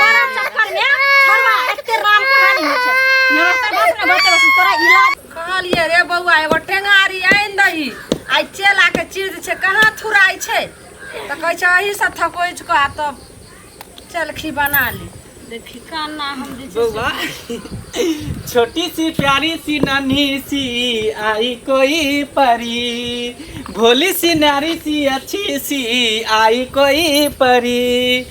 तोरा चक्कर में छोड़वा एते राम कहानी होइ छै नमस्ते बस ने बते बस तोरा इलाज कहलिए रे बौआ एगो टेंगारी आनि दही आइ चेला के चीज छै कहाँ थुराइ छै तऽ कहै छै अही से थकोच कऽ आ तब चलखी बना ली देखी काना हम जे छै से- बौआ छोटी सी प्यारी सी नन्ही सी आई कोई परी भोली सी नारी सी अच्छी सी आई कोई परी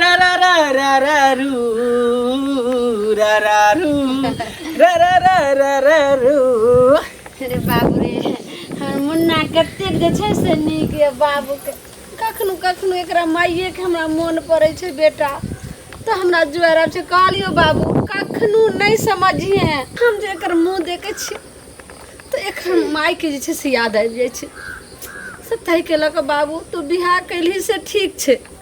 रा रा रा रा रा रू रा रा रू रा रा रा रा रा रू अरे बाबू रे हमर मुन्ना कतेक जे छै से नीक यऽ बाबूके कखनो कखनो एकरा माइएके हमरा मोन पड़ै छै बेटा तऽ हमरा जुआर आब छै कहलियो बाबू कखनो नहि समझिहे हम जे एकर मुँह देखै छी तऽ एकर माइके जे छै से याद आबि जाइ छै से ताहिके लऽ कऽ बाबू तू बियाह कैलही से ठीक छै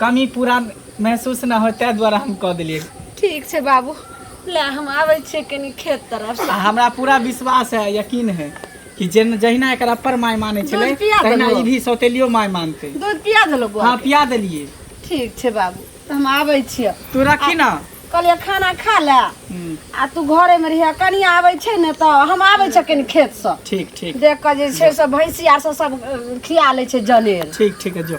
कमी पूरा महसूस ना हो ताहि दुआरे हम कह देलियै ठीक छै बाबू ले हम आबै छियै कनि खेत तरफ आ हमरा पूरा विश्वास है यकीन है कि जेन जहिना एकर अपर माय मानै छलै दूध पिया तहिना देलहुँ। ई भी सौतेलियो माय मानतै दूध पिया देलहुँ बौआ हाँ पिया देलियै ठीक छै बाबू तऽ हम आबै छियै तू रखी ना कहलियै खाना खा ले हम्म, आ तू घरे मे रहिया कनि आबै छै ने तऽ हम आबै छियै कनि खेत से ठीक ठीक देख कऽ जे छै से भैंसी आर से सब अ, खिया लै छै जनेर ठीक ठीक है जो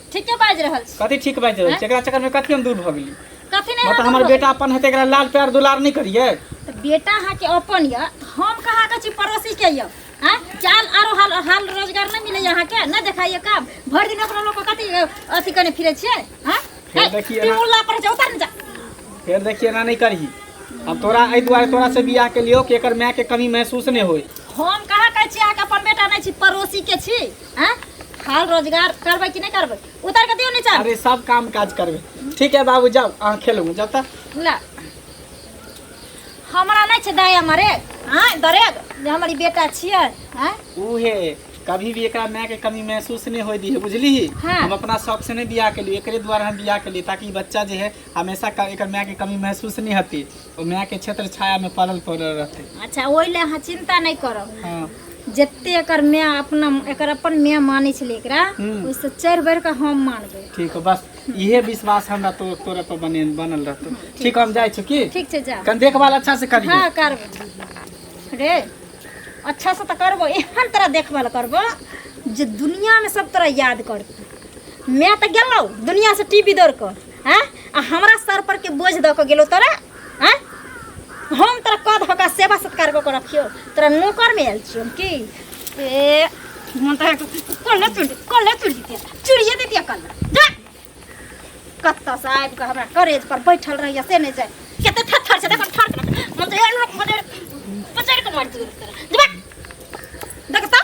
ठीके बाजि रहल छी कथी ठीक बाजि रहल छी एकरा चक्करमे कथी हम दूर भऽ गेली कथी नहि मतलब हमर बेटा अपन हेतै एकरा लाल प्यार दुलार नहि करियै तऽ बेटा अहाँके अपन यऽ हम कहाँ कहै छी पड़ोसीके यऽ आँय चाल आरो हाल हाल रोजगार नहि मिलैए अहाँके नहि देखाइए काम भरि दिन ओकरा लोक कथी अथी कने फिरै छियै आँय फेर देखिए ना। टिमुल्ला पर जा उतार ने जा फेर देखिए एना नहि करही हम तोरा एहि दुआरे तोरा से बियाह के लियो कि एकर माय के कमी महसूस नहि होय हम कहाँ कहै छी अहाँके अपन बेटा नहि छी पड़ोसीके छी हैं हाल रोजगार करबै कि नहीं करबै उतर के दियो नीचा अरे सब काम काज करबे ठीक है बाबू जाओ अहाँ खेलू जाता ला हमरा नहीं छै दया मरे हैं दरेग जे हमर ई बेटा छियै हैं उहे कभी भी एकरा माय के कमी महसूस नहीं होई दी है बुझली ही हाँ। हम अपना शौक से नहीं बियाह के लिए एकरे द्वारा हम बियाह के लिए ताकि ई बच्चा जे है हमेशा क- एकर माय के कमी महसूस नहीं होती ओ माय के क्षेत्र छाया में पड़ल पड़ल रहते अच्छा ओहि लए अहाँ चिंता नहि करब हाँ जते एकर माय अपना एकर अपन माय मानै छलै एकरा हम्म। ओहिसँ चढ़ि बढ़ि कऽ हम मानबै ठीक हो बस इहे विश्वास हमरा तो तोरा पर बने बनल रहतो ठीक हम जाइ छी की ठीक छै जा कन देखभाल अच्छा से करिए हँ करबै रे अच्छा से तऽ करबो एहन तरह देखभाल करबो जे दुनियामे सब तोरा याद करतौ माय तऽ गेलौ दुनियासँ टीवी दौड़ कऽ हैं आ हमरा सर पर के बोझ द के गेलो तोरा हैं हम तोरा कह धऽ के सेवा सत्कार कऽ के रखियो तोरा नौकर में आयल छियो हम की ए मन तोरा कल्ले चुड़ कल्ले चुड़ दितिया चुड़िए दितिया कल्ले जा कत्ता से आबि कऽ हमरा करेज पर बैठल रहिए से नहि जाय कते थर थर से देखो थर मन तो एहन मन पचड़ के मार दियो तोरा जबा देख तऽ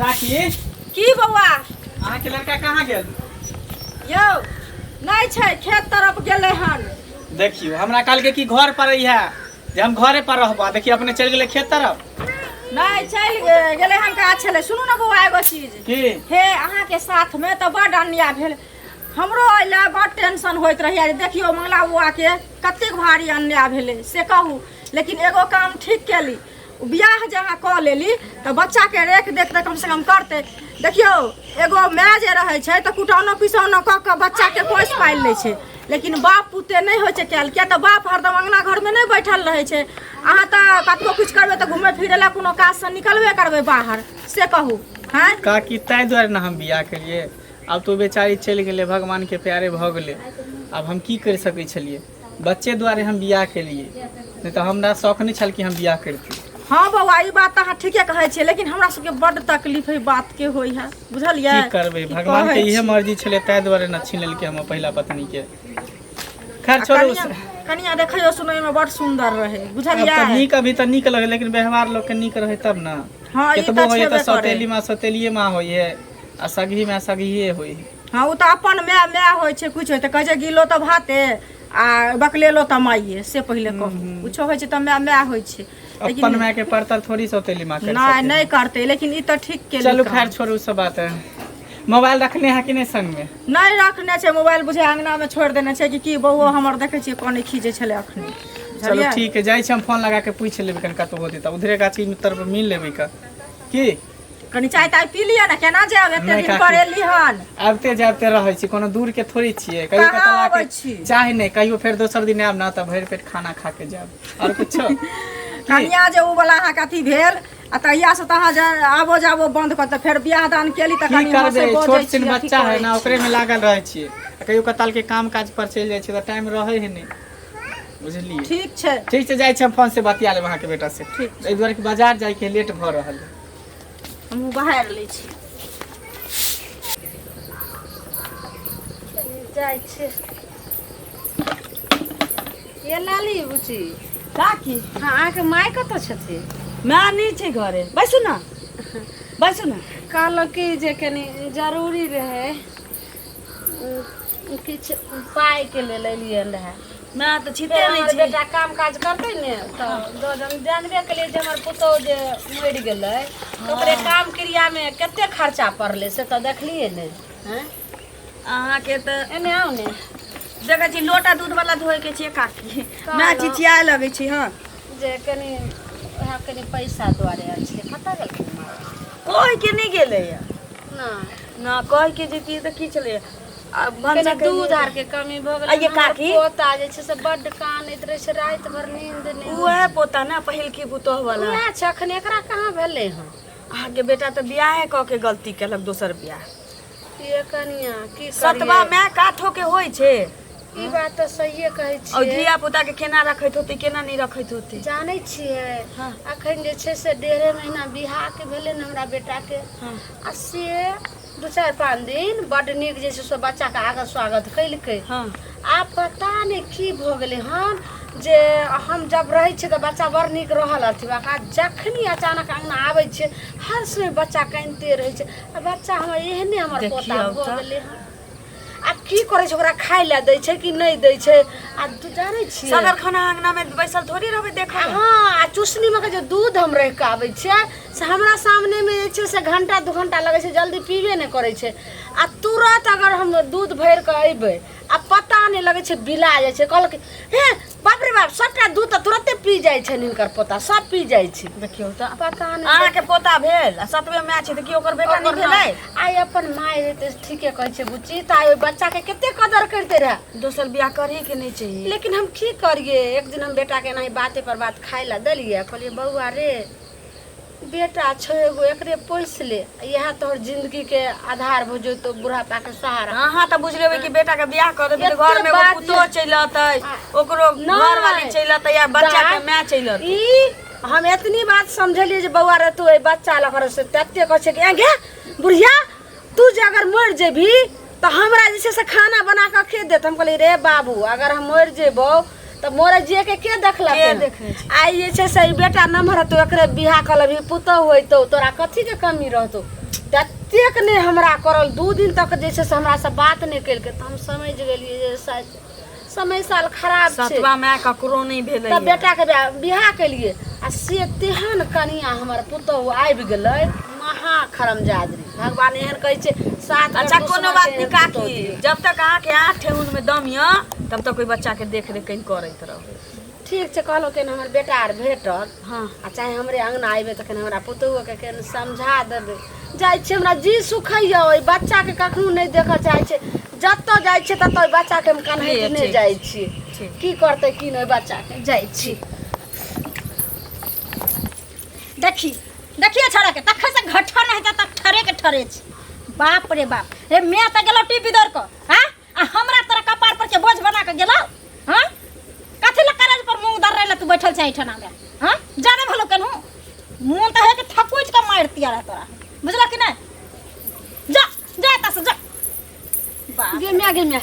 काकी की बौआ अहाँके लड़का कहाँ गेल यौ नहि छै खेत तरफ गेलै हन देखियो हमरा कहलकै कि घर पर रहिया जे हम घरे पर रहबा देखियो अपने चलि गेलै खेत तरफ नहि चलि गे- गेलै हन काज छलै सुनू ने बौआ एगो चीज की हे अहाँके साथमे तऽ बड्ड अन्याय भेल हमरो एहि लए बड्ड टेंशन होइत रहैए जे देखियौ मंगला बौआके कतेक भारी अन्याय भेलै से कहू लेकिन एगो काम ठीक केली बियाह जे अहाँ कऽ लेली तऽ बच्चाके रेख देख तऽ कमसँ कम करतै देखियौ एगो माय जे रहै छै तऽ कुटौनो पिसौनो कऽ कऽ बच्चाके पोसि पालि लै छै लेकिन बाप पुते नहि होइ छै कयल किया तऽ बाप हरदम अङ्गना घरमे नहि बैठल रहै छै अहाँ तऽ कतबो किछु करबै तऽ घुमै फिरै लए कोनो काजसँ निकलबे करबै बाहर से कहू हँ काकी ताहि दुआरे ने हम बियाह केलियै आब तो बेचारी चलि गेलै भगवानके प्यारे भऽ गेलै आब हम की करि सकै छलियै बच्चे दुआरे हम बियाह केलिए नहि तऽ हमरा शौक नहि छल कि हम बियाह करती हाँ बौआ ई बात अहाँ ठीके कहै छियै लेकिन हमरा सबके बड तकलीफ है बात के होई है बुझलियै की करबै भगवान के इहे मर्जी छले ताहि दुआरे न छीन लेलकै हम पहिला पत्नी के खैर छोड़ू कनिया देखियो सुनै में बड सुंदर रहे बुझलियै अब नीक अभी तऽ नीक लगे लेकिन व्यवहार लोग के नीक रहे तब न हाँ, केतबो होइए तऽ सौतेली माँ सौतेलिए माँ होइए आ सगही माँ सगहिए होइए हँ ओ तऽ अपन माय माय होइ छै किछु होइ तऽ कहै छै गिलो तऽ भाते आ बकलेलो तऽ माइये से पहिले कहू किछो होइ छै तऽ माय माय होइ छै लेकिन अपन माय के परतर थोड़ी सौतेली माँ कर नहि नहीं करते लेकिन ई तऽ ठीक के चलू खैर छोड़ू सब बात है मोबाइल रखने है कि नहीं संग में नहि रखने छै मोबाइल बुझे अंगना में छोड़ देने छै कि की बौओ हमर देखे छियै कोने खींचे छले अखने चलो बुझलियै ठीक है जाइ छी हम फोन लगा के पूछ लेबै कनिका तो होते तऽ उधरे गाछी में तरफ मिल लेबै का की कनी चाय ताय पी लिअ ने केना जायब एते नहि दिन काकी। पर एली हन आबिते जाबिते रहै छी कोनो दूर के थोड़ी छियै कहियो कहाँ कतौ आके अबै छी? चाहे नहि कहियो फेर दोसर दिन आयब ने तऽ भरि पेट खाना खा के जायब आओर कुछो कनिया जे उ वाला अहाँके अथी भेल आ तहिया से तऽ अहाँ जा आबो जाबो बंद कर तऽ फेर बियाह दान केली तऽ की कनी उम्हर से करबै बजै छोट छी, छिन अथी बच्चा है करै ना छी। ओकरे में लागल रहै छियै आ कहियो कताल के काम काज पर चलि जाइ छियै तऽ टाइम रहै है नहि बुझलियै ठीक छै ठीक छै जाइ छी हम फोन से बतिया लेब अहाँके बेटा से ठीक एहि दुआरे कि बाजार जाइके लेट भऽ रहल है हमहूँ बाहर लै छी जाइ छै ये लाली बुची काकी हँ अहाँके माय कतऽ छथिन माय नहि छै घरे बैसू ने बैसू ने कहलहुँ कि जे कनी जरूरी रहै किछु पाइके लेल एलियै रहए नहि तऽ छिपे फेर नहि हमर छै बेटा काम काज करतै ने तऽ दऽ देब। जानबे केलियै जे हमर पुतहु जे मरि गेलै तऽ ओकरे काम क्रियामे कते खर्चा पड़लै से तऽ देखलियै ने आँय? अहाँके तऽ एने आउ ने देखै छी लोटा दूध वाला धोए के छै काकी माय चिचिया लगै छी हँ जे कनि उएह कनि पैसा दुआरे आयल छलै कतऽ गेलखिन माँ कहै के नहि गेलैया नहि ना कह के जेती तऽ की छलै आ कनी भनसा दूध कयली। आर के कमी भऽ गेलै आ ये हमर काकी? पोता जे छै से बड्ड कानैत रहै छै राति भर नींद नहि उएह पोता ने पहिलकी पुतोह वाला उएह छै अखन एकरा कहाँ भेलै हँ अहाँके बेटा तऽ बियाहे कऽ के गलती केलक दोसर बियाह ये कनिया की सतबा करियै माय काठो के होइ छै ई बात तऽ सहिए कहै और छियै धिया पुता के केना रखैत होती केना नहीं रखैत होती जानै छियै हाँ। अखन जे छै से डेढ़े महीना बियाह के भेलै ने हमरा बेटा के हाँ। आ से दू चारि पाँच दिन बड नीक जे छै से बच्चा के आगे स्वागत कैलकै हाँ आब पता नहि की भऽ गेलै हन जे हम जब रहै छियै तऽ बच्चा बड़ नीक रहल अथी बा का जखनी अचानक अंगना आबै छै हर समय बच्चा कानिते रहै छै आ बच्चा हमर एहने हमर देखियौ पोता भऽ तऽ। गेलै हन आ की करे छै ओकरा खाय ले दै छै कि नहीं दै छै आ तू जाने छी सदर खाना अंगना में बैसल थोड़ी रहबे देखा हाँ आ चुसनी में के जो दूध हम रह के आबै छै से हमरा सामने में जे छै से घंटा दू घंटा लगै छै जल्दी पीबे नहि करै छै आ तुरंत अगर हम दूध भर के अयबै आ पता नहि लगै छै बिला जाइ छै कहलक हे बाप रे बाप सबटा दूध तऽ तुरते पी जाइ छनि हिनकर पोता सब पी जाइ छै देखियौ तऽ पता नहि अहाँके पोता भेल आ सतवे माय छै तऽ की ओकर बेटा नहि भेलै आइ अपन माय रहे तऽ ठीके कहै छै बुच्ची तऽ आइ ओहि बच्चाके कते कदर करिते रहए दोसर बियाह करही के नहि चाहिए लेकिन हम की करिए एक दिन हम बेटाके एनाही बाते पर बात खाय लए देलिए कहलिए बौआ रे बेटा छौ एगो एकरे पोस ले यह तोहर जिंदगी के आधार हो जो तो बुढ़ापा के सहारा अहाँ तऽ बुझ लेबै कि बेटा के बियाह कर देबै तऽ एते घर में एगो बात पुतो छै। चलि अतै ओकरो नहि। घर वाली चलि अतै या बच्चा के जा। माय चलि अतै ई हम एतनी बात समझलिए जे बौआ रे तू ए बच्चा लग रह से तते कह छै कि "ए गे बुढ़िया तू जे अगर मरि जेबी तऽ हमरा जे छै से खाना बना कऽ के देत हम कहलियै रे बाबू अगर हम मरि जेबौ तऽ मोरे जिए के के देखलक के हन? देखै छै? आइ जे छै से ई बेटा नमहर हेतौ एकरे बियाह कऽ लेबही पुतहु होइतौ तोरा कथी के कमी रहतौ ततेक ने हमरा करल दू दिन तक जे छै से हमरा से बात नहि केलकै तऽ हम समझि गेलियै जे शायद समय साल खराब छै सतवा माय ककरो नहि भेलै तब बेटा के बियाह केलिए आ से तेहन कनिया हमर पुतहु आबि गेलै महा खरमजादरी भगवान एहन कहै छै सात अच्छा कोनो बात नहीं काकी जब तक अहाँ के आठ ठेहुन में दम य तब तक कोई बच्चा के देख रेख कहीं करैत रहो ठीक छै कहलहुँ केहन हमर बेटा आर भेटल हँ आ चाहे हमरे अङ्गना अयबै तखन हमरा पुतोहुओके केहन समझा देबै जाइ छै हमरा जी सुखैया ओहि बच्चाके कखनो नहि देखऽ चाहै छै जतऽ जाइ छै ततऽ ओहि बच्चाके हम कन्हैया नहि जाइ छी की करतै की नहि बच्चाके जाइ छी देखी देखिए छोड़ा के तखन से घटन हेतै तक ठरे के ठरे छै बाप रे बाप रे मैं तो गेलो टीवी दौड़ को हाँ आ हमरा तोरा कपार पर के बोझ बना के गेलो हां कथि ल करज पर मुंह दर रहले तू बैठल छै ठना में हां जाने भलो केनहु मुंह त है के थकुच के मार दिया रह तोरा बुझला कि नहीं जा जा एतऽ से जा बाप गे माय गे माय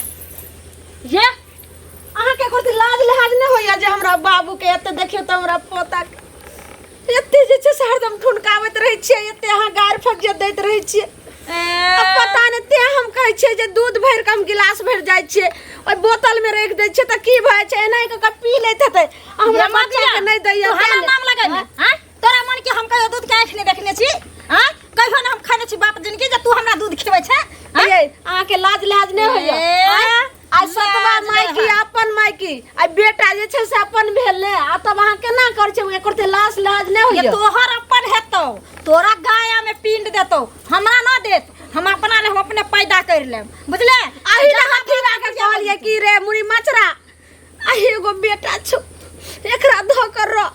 ये अहाँ के एकर लाज लिहाज नहि होइया जे हमरा बाबू के एते देखियो त हमरा पोता के एते जे छै से हरदम ठुनकाबैत रहै छियै एते अहाँ गारि फज्जत दैत रहै छियै आ पता नहि ते हम कहै छियै जे दूध भरि कऽ हम गिलास भरि जाइ छियै ओहि बोतलमे राखि दै छियै तऽ की भऽ जाइ छै एनाहि कऽ कऽ पी लैत हेतै आ हमरा हमरा बच्चाके नहि दैया हमरा तें नाम लगे ने हैं? तोरा मन के हम कहियो दूध के आँख नहीं देखने छी हैं? कहियो ने हम खाने छी बाप जिनकी जे तू हमरा दूध खिलबै छै हैं? ये, अहाँके लाज लाज नहि होइया ए, आँय? आ सतवा मायकी अपन मायकी आ बेटा जे छै से अपन भेल ने आ तब अहाँ केना कर छै एकर ते लाश लाज नहि होइए तोहर अपन हेतौ तोरा गाया में पिंड देतौ हमरा ना देत हम अपना ले हम अपने पैदा कर लेब बुझले आही ले हाथी ला के कहलिए की रे मुड़ी मचरा आही एगो बेटा छौ एकरा धोकर रह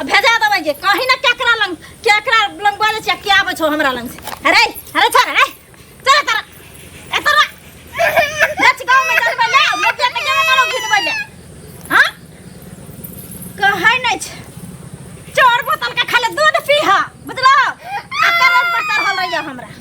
आ भेजा देबै जे कहीं ना केकरा लंग केकरा लंग बोले छै के आबै छौ हमरा लंग से अरे अरे छोड़ अरे चल तर ए तर लच गांव में चल बले मोटे के जगह करो घिन बले हां कहै नै छै चोर बोतल के खाली दूध पीहा बुझलो आ करज पर चढ़ल रहिया हमरा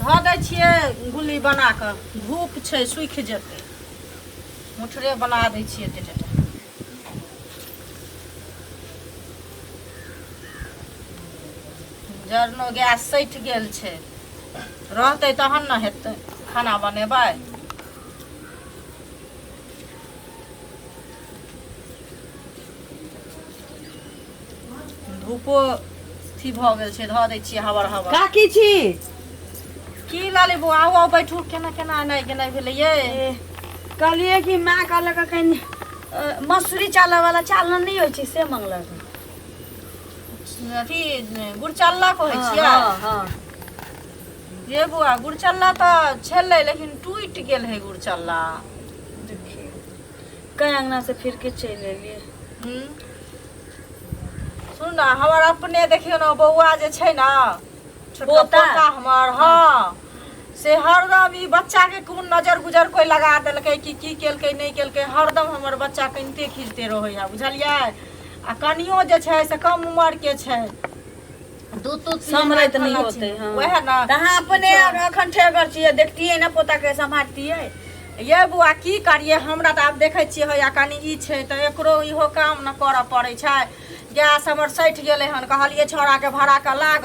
धऽ दै छियै गुल्ली बना कऽ धूप छै सूखि जेतै मुठरे बना दै छियै एते टा जरनो गैस सटि गेल छै रहतै तहन ने हेतै खाना बनेबै धूपो अथी भऽ गेल छै धऽ दै छियै हबर हबर का की छी की लाली बो आउ आउ बैठू केना केना एनाइ गेनाइ भेलै ये ए, कहलियै कि माँ कहलक हँ कनि अ, मसूरी चालऽ वाला चालना नहि होइ छै से मंगलक हँ। अथी गुड़ चालला कहै हँ, छियै हँ, हँ। ये बौआ गुड़ चालला तऽ छलै लेकिन टूटि गेल है गुड़ चालला कई अंगना से फिर के चल एलिए हम्म। सुन ना हमर अपने देखियो ना बौआ जे छै ना छोटका पोता? पोता हमर हाँ से हरदम ई बच्चा के कोन नजर गुजर कोई लगा देलकै कि की केलकै नहीं केलकै हरदम हमर बच्चा कनिते खींचते रहै है बुझलियै आ कनियो जे छै से कम उम्र के छै दूध तूध पियेला, सम्हरैत नहि खाना होतै, छियै। हँ। वएह ने तऽ अहाँ अपने एखन ठेगर छियै देखतियै ने पोताके सम्हारतियै ये बौआ की करियै हमरा तऽ आब देखै छियै होइया कनि ई छै तऽ एकरो इहो काम ने करऽ पड़ै छै गैस हमर सठि गेलै हन कहलियै छौड़ाके भरा कऽ लाग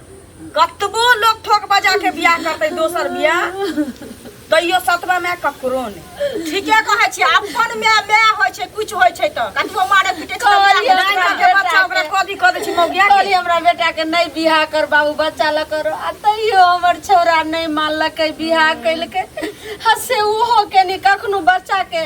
कतबो लोग ठोक बजा के बियाह करते दोसर बियाह तैयो सतवा में ककरो ने ठीके कहै छी अपन में में होय छै कुछ होय छै त कतबो मारे पीटे छै कहलियै हमरा के बेटा बच्चा ओकरा के। कदी क दै छी मौगिया के कहली हमरा बेटा के नहीं बियाह कर बाबू बच्चा ल करो आ तैयो हमर छौरा नहीं मानलकै बियाह कैलकै हसे ओहो के नहीं कखनो बच्चा के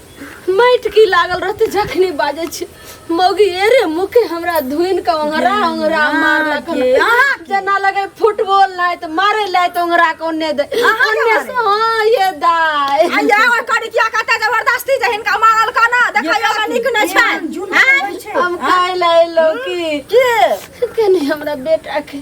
माटि की लागल रहते जखनी बाजे छी मौगी ए रे मुके हमरा धुइन के ओंगरा ओंगरा मारलक अहाँ जना लगे फुटबॉल लाय त मारे लाय त ओंगरा के ओन्ने दे अहाँ के ओन्ने से हां ये दाय आइया ओइ करी किया कहते जबरदस्ती जे हिनका मारल का ना देखै हमरा नीक नै छै हम काहे लाय लौकी के कने हमरा बेटा के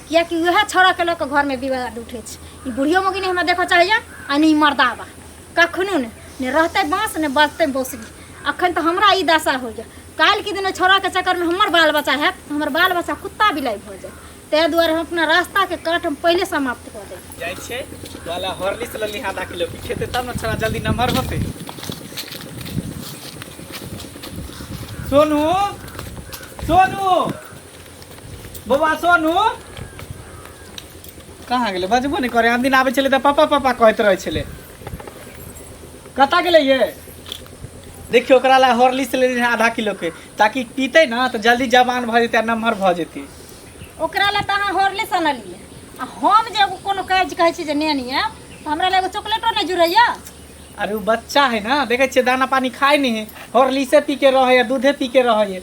किएकि उएह छौड़ाके लऽ कऽ घरमे विवाद उठै छै ई बुढ़ियो मौगी नहि हमरा देखऽ चाहैए आ नहि ई मर्दाबा कखनो नहि ने रहतै बाँस ने बजतै बौसली अखन तऽ हमरा ई दशा होइए काल्हिके दिन ओहि छौड़ाके चक्करमे हमर बाल बच्चा हैत तऽ हमर बाल बच्चा कुत्ता बिलाइ भऽ जायत ताहि दुआरे हम अपना रास्ताके काट हम पहिले समाप्त कऽ देब जाइ छै वाला हॉर्लिक्स लऽ लिहा आधा किलो की खेतै तब ने छोड़ा जल्दी नमहर होतै सोनू सोनू बौआ सोनू कहाँ गेलै बजबो नहि करे हम दिन आबै छलै तऽ पापा पापा कहैत रहै छलै कतऽ गेलै ये देखियो ओकरा ला हॉर्लिक्स लेने रहे आधा किलो के ताकि पीते ना तो जल्दी जवान भऽ जेतै आ नमहर भऽ जेतै ओकरा ला तऽ अहाँ होरले सनलियै आ हम जे एगो कोनो काज कहै छी जे नेनी है तऽ हमरा ला एगो चॉकलेटो नहि जुड़ैया अरे उ बच्चा है ना देखे छियै दाना पानी खाय नहीं है हॉर्लिक्से पी के रहे है दूधे पी के रहे है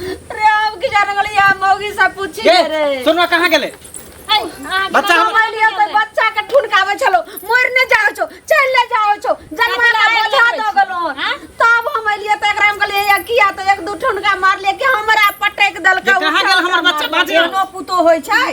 रे हम की जाने वाली हम मौगी से पूछी गे रे सोनवा कहाँ गेले है, अहाँ के बच्चा हम- मोबाइल लिया तो बच्चा के ठुनकावे छलो मोर ने जाओ छो चल ले जाओ छो जनमा का काहे बोझा लगबै दो छी? गलो हाँ? तब हम लिए तो एकरा हम कहलिए या किया तो एक दू ठुनका मार ले के हमरा पटक दल ये कहाँ गेल हमर बच्चा? बाजे। नो पुतो होय छै